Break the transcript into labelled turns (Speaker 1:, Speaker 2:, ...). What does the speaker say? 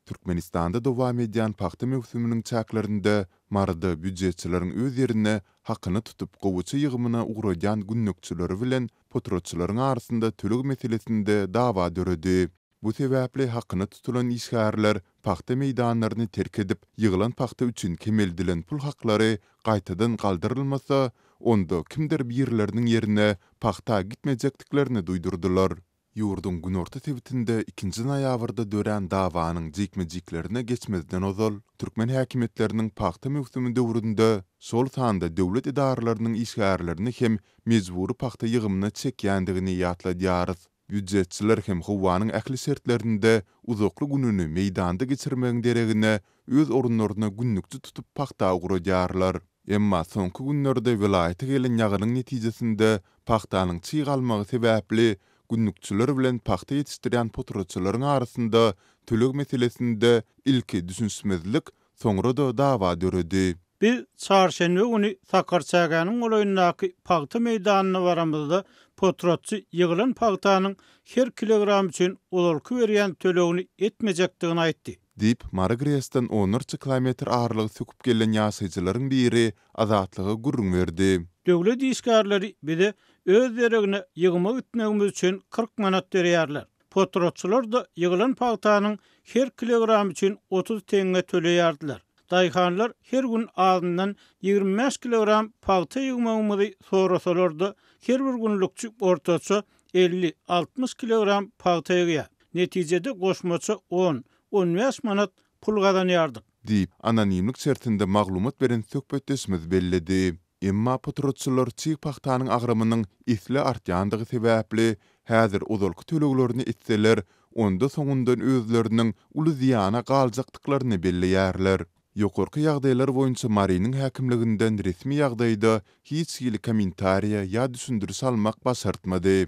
Speaker 1: Türkmenistanda dowam edýän pagta möwsüminiň çäklerinde Maryda býujetçileriň öz ýerine hakyny tutup gowaça ýygymyna ugradýan gündükçileri bilen potratçylaryň arasynda töleg meselesinde dawa döredi. Bu sebäpli hakyny tutulan işgärler pagta meýdanlaryny terk edip, ýygylan pagta üçin kemeldilen pul haklary gaýtadan galdyrylmasa, onda kimdir birleriniň ýerine pagta gitmejekdiklerini duýdurdylar. Ýurduň günorta sebitinde ikinji noýabrda dörän dawanyň jikme-jiklerine geçmezden ozal, türkmen häkimiýetleriniň pagta möwsümi döwründe, şol sanda döwlet edaralarynyň işgärlerini hem mejbury pagta ýygymyna çekýändigini ýatladýarys. Býujetçiler hem howanyň ähli şertlerinde uzakly gününi meýdanda geçirmegiň deregine, öz orunlaryna günlükçi tutup pagta ugradýarlar. Emma soňky günlerde welaýata gelen ýagynyň netijesinde Pagtanyň çyg almagy sebäpli gündükçiler bilen pagta ýetişdirýän potratçylaryň arasynda töleg meselesinde ilki düşünişmezlik, soňra-da dawa döredi. Biz çarşenbe
Speaker 2: güni Sakarçägäniň golaýyndaky pagta meýdanyna baramyzda, potratçy ýygylan pagtanyň her kilogram üçin ozalky berýän tölegini etmejekdigini aýtdy. Diýip, Mary GRES-den
Speaker 1: onlarça kilometr aralygy söküp gelen ýaşaýjylaryň biri Azatlyga gürrüň berdi. Döwlet işgärleri
Speaker 2: bize öz deregine ýygyma gitmegimiz üçin kyrk manat berýärler. Potratçylar-da ýygylan pagtanyň her kilogramy üçin otuz teňňe töleýärdiler. Daýhanlar her gün azyndan ýigrimi bäş kilogram pagta ýygmagymyzy sorasalar-da, her bir günlükçi ortaça elli, altmyş kilogram pagta ýygýar. Netijede goşmaça on, on bäş manat pul gazanýardyk. Diýip, anonimlik
Speaker 1: şertinde maglumat beren söhbetdeşimiz belledi. Emma potratçylar çig pagtanyň agramynyň esli artýandygy sebäpli, häzir ozalky töleglerini etseler, onda soňundan özleriniň uly zyýana galjakdyklaryny belleýärler. Ýokarky ýagdaýlar boýunça Marynyň häkimliginden resmi ýagdaýda hiç hili kommentariýa ýa düşündiriş almak başartmady.